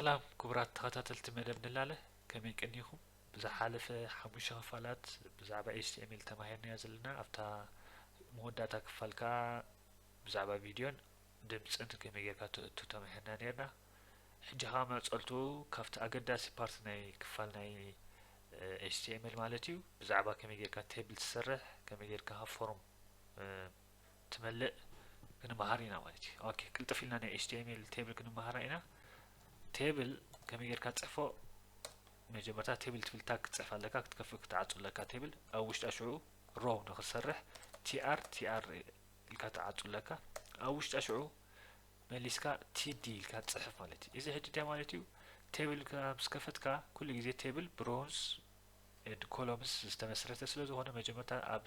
ሰላም ክቡራት ተኸታተልቲ መደብ ንላለ ከመይ ቀኒኹም ብዝሓለፈ ሓሙሽተ ክፋላት ብዛዕባ HTML ተማሂርናዮ ዘለና ኣብታ መወዳእታ ክፋል ከኣ ብዛዕባ ቪድዮን ድምጽን ከመይ ጌርካ ተእቱ ተማሂርና ኔርና ሕጂ ከኣ መጸልቱ ካብቲ ኣገዳሲ ፓርቲ ናይ ክፋል ናይ HTML ማለት እዩ ብዛዕባ ከመይ ጌርካ ቴብል ትሰርሕ ከመይ ጌርካ ፎርም ትመልእ ክንመሃር ኢና ማለት እዩ ኦኬ ቅልጥፍ ኢልና ናይ html ቴብል ክንመሃራ ኢና ቴብል ከመይ ጌርካ ትጽሕፎ መጀመርታ ቴብል ትብል ታግ ክትጽሕፍ ኣለካ ክትከፍእ ክትዓጹ ኣለካ ቴብል ኣብ ውሽጣ ሽዑ ሮ ንክትሰርሕ ቲኣር ቲኣር ኢልካ ትዓጹ ኣለካ ኣብ ውሽጣ ሽዑ መሊስካ ቲዲ ኢልካ ትጽሕፍ ማለት እዩ እዚ ሕጂ እንታይ ማለት እዩ ቴብል ምስ ከፈትካ ኩሉ ግዜ ቴብል ብሮንስ ኮሎምስ ዝተመስረተ ስለ ዝኾነ መጀመርታ ኣብ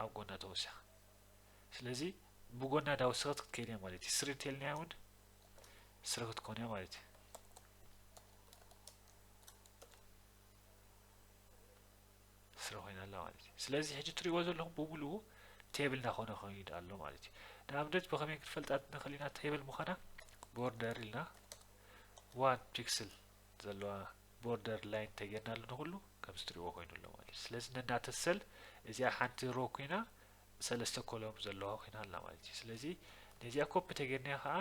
ኣብ ጎና ተወሲኻ ስለዚ ብጎና ዳወሰኸት ክትከይድ እያ ማለት እዩ ስሪ ተልናያ እውን ስሪ ክትኮን እያ ማለት እዩ ስሪ ኮይና ኣላ ማለት እዩ ስለዚ ሕጂ እትሪእዎ ዘለኹም ብምልኡ ቴብል እናኾነ ከይድ ኣሎ ማለት እዩ ንኣብነት ብኸመይ ክትፈልጣት ንኽእል ኢና ቴብል ምዃና ቦርደር ኢልና ዋን ፒክስል ዘለዋ ቦርደር ላይን እንተጌርናሉ ንኹሉ ከምዚ ትሪእዎ ኮይኑ ኣሎ ማለት እዩ ስለዚ ነናተ ሰል እዚኣ ሓንቲ ሮ ኮይና ሰለስተ ኮሎም ዘለዋ ኮይና ኣላ ማለት እዩ ስለዚ ነዚኣ ኮፒ እንተጌርናያ ከዓ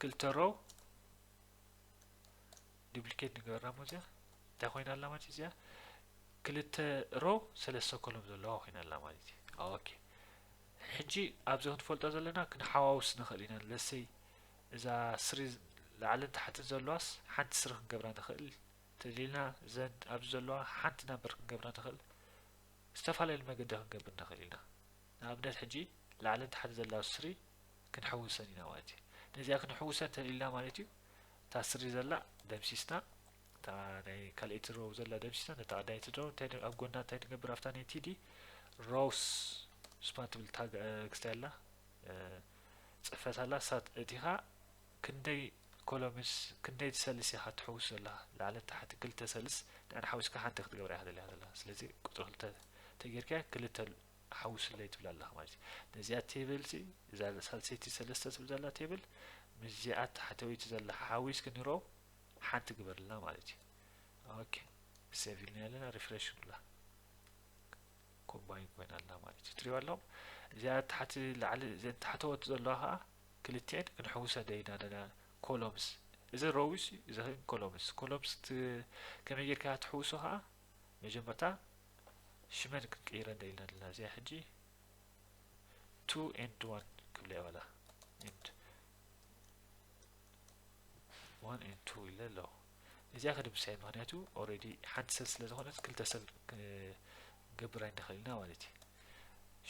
ክልተ ሮ ዱፕሊኬት ንገበርና እሞ እዚኣ እንታይ ኮይና ኣላ ማለት እዩ እዚኣ ክልተ ሮ ሰለስተ ኮሎም ዘለዋ ኮይና ኣላ ማለት እዩ ኦኬ ሕጂ ኣብዚ ክንፈልጦ ዘለና ክንሓዋውስ ንኽእል ኢና ለሰይ እዛ ስሪ ላዕልን ታሕትን ዘለዋስ ሓንቲ ስሪ ክንገብራ ንክእል ተሊልና ዘን ኣብዚ ዘለዋ ሓንቲ ናምበር ክንገብራ ንክእል ዝተፋላለየ መገዲ ክንገብር ንክእል ኢና ንኣብነት ሕጂ ላዕልን ታሕትን ዘለዋ ስሪ ክንሕውሰን ኢና ማለት እዩ ነዚኣ ክንሕውሰን ተሊልና ማለት እዩ እታ ስሪ ዘላ ደምሲስና እታ ናይ ካልኣይቲ ሮው ዘላ ደምሲስና ነታ ቀዳይቲ ሮው እንታይ ኣብ ጎና እንታይ ንገብር ኣብታ ናይ ቲዲ ሮውስ ስፓን ትብል ታግ ክስታይ ኣላ ጽፈት ኣላ ሳት እቲካ ክንደይ ኮሎምስ ክንደይ ሰልስ ኢካ ትሕውስ ዘለካ ላዕልን ታሕትን ክልተ ሰልስ ንዕን ሓዊስካ ሓንቲ ክትገብራ ኢካ ደሊካ ዘለካ ስለዚ ቁጽሪ ክልተ ተጌርካያ ክልተ ሓውስለይ ትብል ኣለካ ማለት እዩ ነዚኣ ቴብል ሲ እዛ ሳልሰይቲ ሰለስተ ትብል ዘላ ቴብል ምስዚኣ ታሕተወይቲ ዘላ ሓዊስክ ንሮ ሓንቲ ግበርልና ማለት እዩ ኦኬ ሴቭ ኢልና ኣለና ሪፍሬሽ ንብላ ኮምባይን ኮይና ኣላ ማለት እዩ ትሪእዋ ኣለኹም እዚኣ ታሕቲ ላዕሊ እዘን ታሕተወት ዘለዋ ከዓ ክልቲኤን ክንሕውሰደ ኢና ኣለና ኮሎምስ እዚ ሮዊስ እዚ ኮሎምስ ኮሎምስ ከመይ ጌርካ ትሕውሶ ከዓ መጀመርታ ሽመን ክንቅይረን ደኢልና ኣለና እዚኣ ሕጂ ቱ ኤንድ ዋን ክብለ ይበላ ኤንድ ዋን ኤንድ ቱ ኢለ ኣለኹ እዚኣ ከድምስሰያ ምክንያቱ ኦሬዲ ሓንቲ ሰብ ስለ ዝኾነት ክልተ ሰብ ክንገብር ኣይንኽእልና ማለት እዩ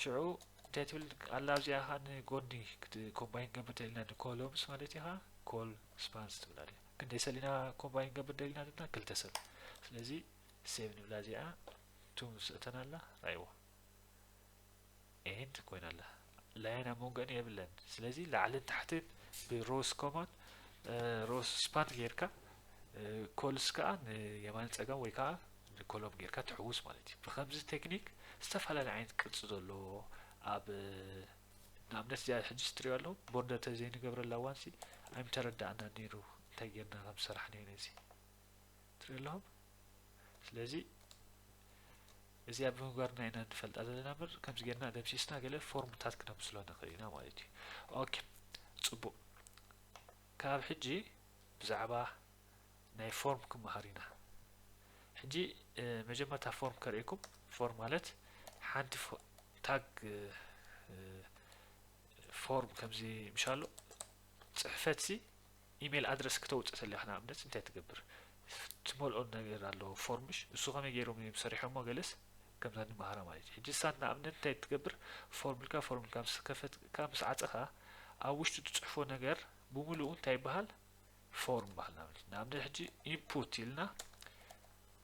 ሽዑ እንታይ ትብል ኣላ ኣብዚኣ ኸ ንጎኒ ኮምባይን ገብር ደሊና ንኮሎምስ ማለት እዩ ኸ ኮል ስፓንስ ትብላ ድያ ክንደይ ሰሊና ኮምባይን ገብር ደሊና ድና ክልተ ሰብ ስለዚ ሴቭ ንብላ እዚኣ ቱም ስእተን ኣላ ራይዎ ኤንድ ኮይና ኣላ ላይን ኣብ መንጎን የብለን ስለዚ ላዕልን ታሕትን ብሮስ ኮማን ሮስ ስፓን ጌርካ ኮልስ ከዓ ንየማን ፀጋም ወይ ከዓ ንኮሎም ጌርካ ትሕውስ ማለት እዩ ብከምዚ ቴክኒክ ዝተፈላለየ ዓይነት ቅርፂ ዘለዎ ኣብ ንኣብነት እዚኣ ሕጂ ስትሪዮ ኣለዉ ቦርደር ተዘይንገብረላ ዋንሲ ኣይምተረዳእና ነይሩ እንታይ ጌርና ከም ሰራሕና ነዚ ትሪኡ ኣለኹም ስለዚ እዚኣ ብምግባርና ኢና ንፈልጣ ዘለና ምር ከምዚ ጌርና ደምሲስና ገለ ፎርምታት ክነምስሎ ንኽእል ኢና ማለት እዩ ኦኬ ፅቡቅ ካብ ሕጂ ብዛዕባ ናይ ፎርም ክመሃር ኢና ሕጂ መጀመርታ ፎርም ከርእኩም ፎርም ማለት ሓንቲ ታግ ፎርም ከምዚ ምሻሎ ፅሕፈት ሲ ኢሜል ኣድረስ ክተውጽእ ተለካ ንኣብነት እንታይ ትገብር ትመልኦ ነገር ኣሎ ፎርም ምሽ ንሱ ከመይ ጌሮም እዮም ሰሪሖሞ ገለስ ከምዛ ንመሃራ ማለት እዩ ሕጂ ሳት ንኣብነት እንታይ ትገብር ፎርም ኢልካ ፎርም ኢልካ ምስ ከፈትካ ምስ ዓጸኻ ኣብ ውሽጡ ትጽሕፎ ነገር ብምሉኡ እንታይ ይበሃል ፎርም በሃል ንኣብነት ንኣብነት ሕጂ ኢንፑት ኢልና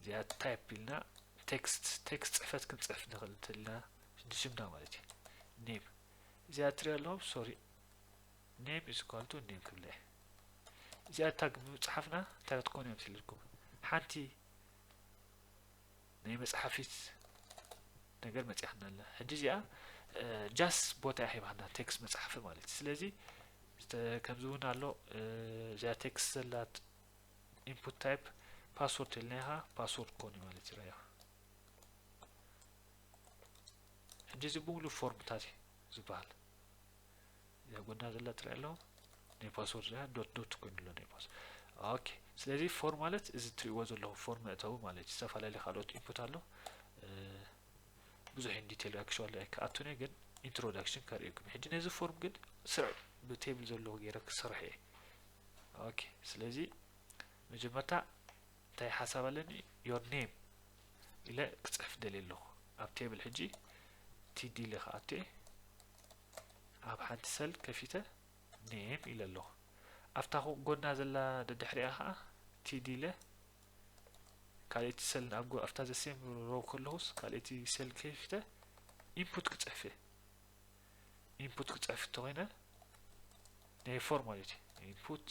እዚኣ ታይፕ ኢልና ቴክስት ቴክስት ጽሕፈት ክንጽሕፍ ንኽእል እንተልና ንስምና ማለት እዩ ኔም እዚኣ ትሪኣ ኣለኹም ሶሪ name is equal to name ክብለ እዚኣ ታግ ብምብፅሓፍና እንታይ ክትኮኑ እዮም ስልልኩም ሓንቲ ናይ መፅሓፊት ነገር መፅያክና ኣላ ሕጂ እዚኣ ጃስ ቦታ እያ ሂባክና ቴክስ መፅሓፊ ማለት እዩ ስለዚ ከምዚ እውን ኣሎ እዚኣ ቴክስ ዘላ ኢንፑት ታይፕ ፓስወርድ ኢልናይሃ ፓስወርድ ኮኑ ማለት እዩ ራያ ሕጂ እዚ ብምሉ ፎርምታት እዩ ዝበሃል ጎና ዘላ ትሪኣ ኣለኹ ናይ ፓስወርድ ያ ዶት ዶት ኮይኑ ኣሎ ናይ ፓስ ኦኬ ስለዚ ፎር ማለት እዚ ትሪእዎ ዘለኹ ፎር መእተዊ ማለት እዩ ዝተፈላለዩ ካልኦት ኢንፑት ኣሎ ብዙሕ ዲቴል ኣክሽዋሊ ኣይከኣቱን ግን ኢንትሮዳክሽን ከርእየኩም ሕጂ ነዚ ፎርም ግን ስርዕ ብቴብል ዘለዎ ገይረ ክሰርሕ እየ ኦኬ ስለዚ መጀመርታ እንታይ ሓሳብ ኣለኒ ዮር ኔም ኢለ ክፅሕፍ ደልየ ኣለኹ ኣብ ቴብል ሕጂ ቲዲ ኢለ ክኣቱ እየ ኣብ ሓንቲ ሰል ከፊተ name ኢለ ኣለኹ። ኣብታ ኹቕ ጎና ዘላ ደድሕሪኣ ኸኣ td ኢለ ካልእቲ ሰል ኣብ ኣብታ the same row ከለኹስ ካልእቲ ሰል ከፊተ input ክጽሕፍ እየ። input ክጽሕፍ እንተኾይነ ናይ ፎርም ማለት እዩ input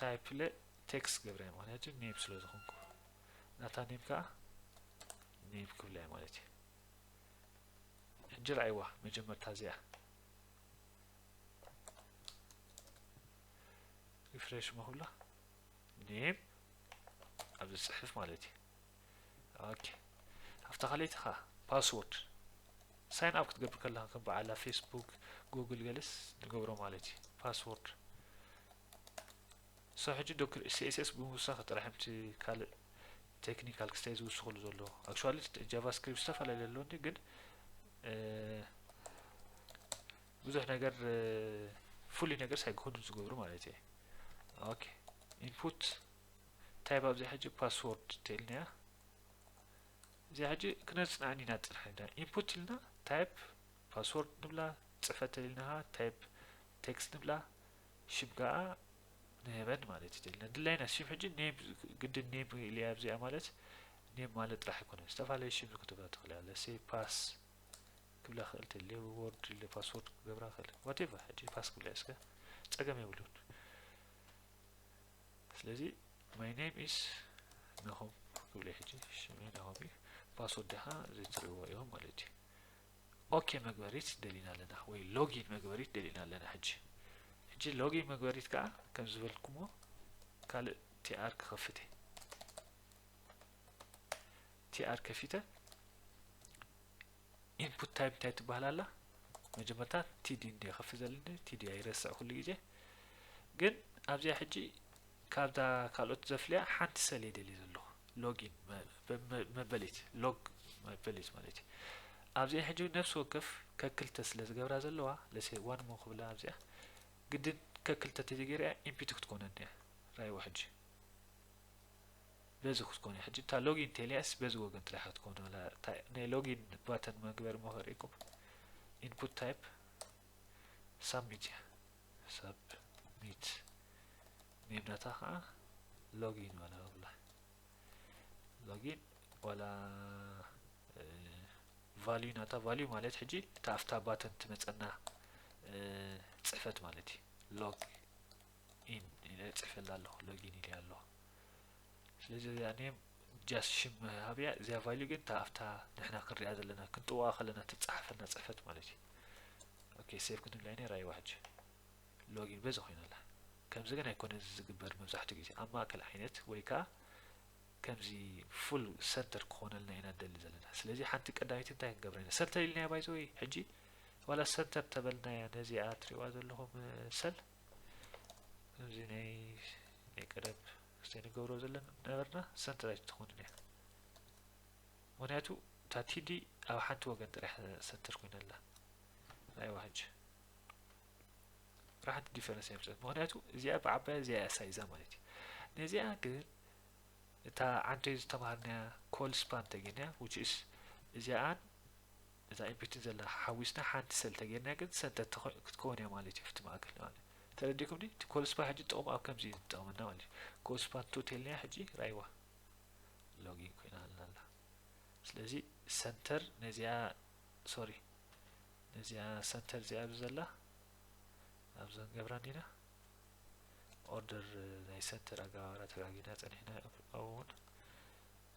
ታይፕ ለ ቴክስት ገብረያ ምክንያቱ ኔም ስለ ዝኾንኩ ናታ ኔም ከዓ ኔም ክብለያ ማለት እዩ ሕጂ ርኣይዋ መጀመርታ እዚኣ ሪፍሬሽ መሁላ ኔም ኣብዚ ጽሕፍ ማለት እዩ ኦኬ ኣብታ ካልኣይቲ ኸዓ ፓስወርድ ሳይን ኣብ ክትገብር ከለኻ ከም በዓላ ፌስቡክ ጉግል ገለስ ንገብሮ ማለት እዩ ፓስወርድ ክሳብ ሕጂ ዶክር css ብምውሳኽ ጥራሕ እምቲ ካልእ ቴክኒካል ክስታይ ዝውስኽሉ ዘሎ ኣክቹዋሊ ጃቫስክሪፕት ዝተፈላለዩ ኣለኒ ግን ብዙሕ ነገር ፍሉይ ነገር ሳይክህዱ ዝገብሩ ማለት እየ ኦኬ ኢንፑት እንታይ ኣብዚ ሕጂ ፓስወርድ ትልና እያ እዚ ሕጂ ክነፅንዐን ኢና ጥራሕ ኢና ኢንፑት ኢልና ታይፕ ፓስወርድ ንብላ ፅፈት ተሊልናሃ ታይፕ ቴክስት ንብላ ሽም ከኣ ንሄቨን ማለት እዩ ደልና ድላይና ሽም ሕጂ ኔም ግድን ኔም ኢልያ ኣብዚኣ ማለት ኔም ማለት ጥራሕ ኣይኮነን ዝተፈላለዩ ሽም ክትብላ ትኽእል እያ ለሴ ፓስ ክብላ ክእል ተልየ ወርድ ኢለ ፓስወርድ ክገብራ ክእል ዋቴቨር ሕጂ ፓስ ክብላ እስከ ጸገም የብሉን ስለዚ ማይ ኔም ኢስ ናሆም ክብለ ሕጂ ሽመይ ናሆም እዩ ፓስወርድ ድኻ ዘይትርእዎ እዮም ማለት እዩ ኦኬ መግበሪት ደሊና ኣለና ወይ ሎጊን መግበሪት ደሊና ኣለና ሕጂ ሕጂ ሎጊን መግበሪት ከዓ ከም ዝበልኩሞ ካልእ ቲኣር ክኸፍት እየ ቲኣር ከፊተ ኢንፑት ታይፕ እንታይ ትበሃል ኣላ መጀመርታ ቲዲ እንደ ከፍ ዘልኒ ቲዲ ኣይረስዕ ኩሉ ግዜ ግን ኣብዚኣ ሕጂ ካብዛ ካልኦት ዘፍልያ ሓንቲ ሰል የደልየ ዘለኹ ሎጊን መበሊት፣ Log መበሊት ማለት እዩ። ኣብዚኣ ሕጂ እውን ነፍሲ ወከፍ ከክልተ ስለ ዝገብራ ዘለዋ ለሴ ዋን እሞ ክብላ ኣብዚኣ ግድን ከክልተ እንተዘይገይረያ ኢምፒቲ ክትኮነኒ እያ ራይዎ ሕጂ በዚ ክትኮነ ሕጂ እታ ሎጊን ቴልያስ በዚ ወገን ጥራሕ ክትኮነ ናይ ሎጊን ባተን መግበሪ መኸሪኩም ኢንፑት ታይፕ ሳሚት እያ ሰብሚት ሜዳታ ከዓ ሎጊን በላ ብላ ሎጊን ዋላ ቫልዩ ናታ ቫልዩ ማለት ሕጂ እታ ኣብታ ባተን ትመፀና ፅሕፈት ማለት እዩ ሎግ ኢን ኢለ ፅሕፈላ ኣለኹ ሎጊን ኢለ ኣለኹ ስለዚ እዚኣ ኔም ጃስ ሽም መሃብ እያ እዚኣ ቫልዩ ግን እታ ኣብታ ንሕና ክንሪኣ ዘለና ክንጥውቃ ከለና ትጸሓፈና ጽሕፈት ማለት እዩ ኦኬ ሴቭ ክንብላ ኢና ራይዋ ሕጂ ሎጊን በዚ ኮይና ኣላ ከምዚ ግን ኣይኮነ እዚ ዝግበር መብዛሕትኡ ግዜ ኣብ ማእከል ዓይነት ወይ ከዓ ከምዚ ፉል ሰንተር ክኾነልና ኢና ንደሊ ዘለና ስለዚ ሓንቲ ቀዳሚት እንታይ ክንገብራ ኢና ሰንተር ኢልናያ ባይዘወይ ሕጂ ዋላ ሰንተር ተበልናያ ነዚኣ ትሪእዋ ዘለኹም ሰል ከምዚ ናይ ናይ ቀደም እስቲ ንገብሮ ዘለና ነበርና ሰንትራይት ትኾን እያ ምክንያቱ እታ ቲዲ ኣብ ሓንቲ ወገን ጥራሕ ሰንትር ኮይና ኣላ ናይ ዋህጅ ራሕቲ ዲፈረንስ የምፅእ ምክንያቱ እዚኣ ብዓባያ እዚኣ እያ ሳይዛ ማለት እዩ ነዚኣ ግን እታ ዓንተይ ዝተምሃርናያ ኮል ስፓን ተገንያ ውችስ እዚኣን ነታ ኢፒቲ ዘላ ሓዊስና ሓንቲ ሰል ተገይርና ግን ሰንተር ተኮይ ክትከውን እያ ማለት እዩ ኣብቲ ማእከል ንማለት ተረዲኩምኒ እቲ ኮልስፓ ሕጂ ጥቅሙ ኣብ ከምዚ እዩ ዝጠቅመና ማለት እዩ ኮልስፓ እንተው ተልናያ ሕጂ ራይዋ ሎጊን ኮይናልና ኣላ ስለዚ ሰንተር ነዚኣ ሶሪ ነዚኣ ሰንተር እዚኣ ኣብዚ ዘላ ኣብዚ ክንገብራ እንዲና ኦርደር ናይ ሰንተር ኣገባብራ ተጋጊና ጸኒሕና ኣብውን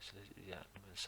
ስለዚ እዚኣ ንመልሳ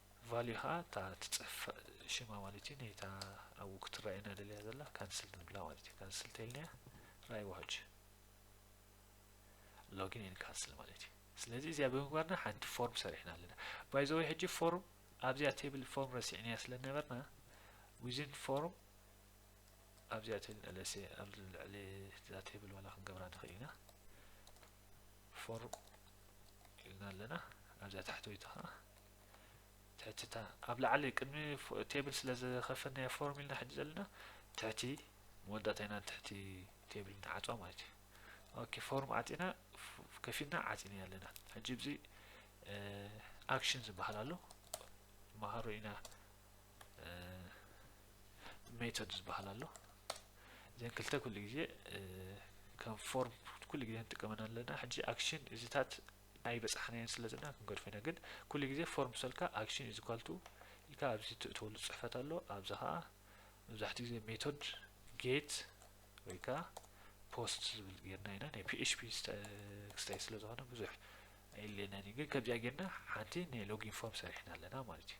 ቫልዩ ከኣ እታ ትጽፈ ሽማ ማለት እዩ ናይታ ኣብኡ ክትረኣየና ደልያ ዘላ ካንስል ንብላ ማለት እዩ ካንስል ተይልናያ ራይ ዋሃጅ ሎጊን ኤን ካንስል ማለት እዩ ስለዚ እዚኣ ብምግባርና ሓንቲ ፎርም ሰሪሕና ኣለና ባይ ዘወይ ሕጂ ፎርም ኣብዚኣ ቴብል ፎርም ረሲዕናያ ስለ ነበርና ዊዝን ፎርም ኣብዚኣ ቴብል ኣለሰ ኣብ ልዕሊ እዛ ቴብል ዋላ ክንገብራ ንኽእል ኢና ፎርም ኢልና ኣለና ኣብዚኣ ታሕተወይቲ ከዓ ትሕትታ ኣብ ላዕሊ ቅድሚ ቴብል ስለ ዝኸፈትናዮ ፎርም ኢልና ሕጂ ዘለና ትሕቲ መወዳእታ ኢና ትሕቲ ቴብል ንዓጽዋ ማለት እዩ ኦኬ ፎርም ዓጺና ከፊትና ዓጺና ኣለና ሕጂ ብዚ ኣክሽን ዝበሃል ኣሎ መሃሮ ኢና ሜቶድ ዝበሃል ኣሎ እዘን ክልተ ኩሉ ግዜ ከም ፎርም ኩሉ ግዜ ንጥቀመን ኣለና ሕጂ ኣክሽን እዚታት ኣይበጻሕናዮን ስለ ዘለና ክንገድፎ ኢና ግን ኩሉ ግዜ ፎርም ክሰልካ ኣክሽን ኢዝ ኢኳል ቱ ኢልካ ኣብዚ ትእትወሉ ጽሕፈት ኣሎ ኣብዚ ከኣ መብዛሕትኡ ግዜ ሜቶድ ጌት ወይ ከኣ ፖስት ዝብል ጌርና ኢና ናይ ፒኤችፒ ክስታይ ስለ ዝኾነ ብዙሕ ኣይለየናን እዩ ግን ከምዚኣ ጌርና ሓንቲ ናይ ሎጊን ፎርም ሰሪሕና ኣለና ማለት እዩ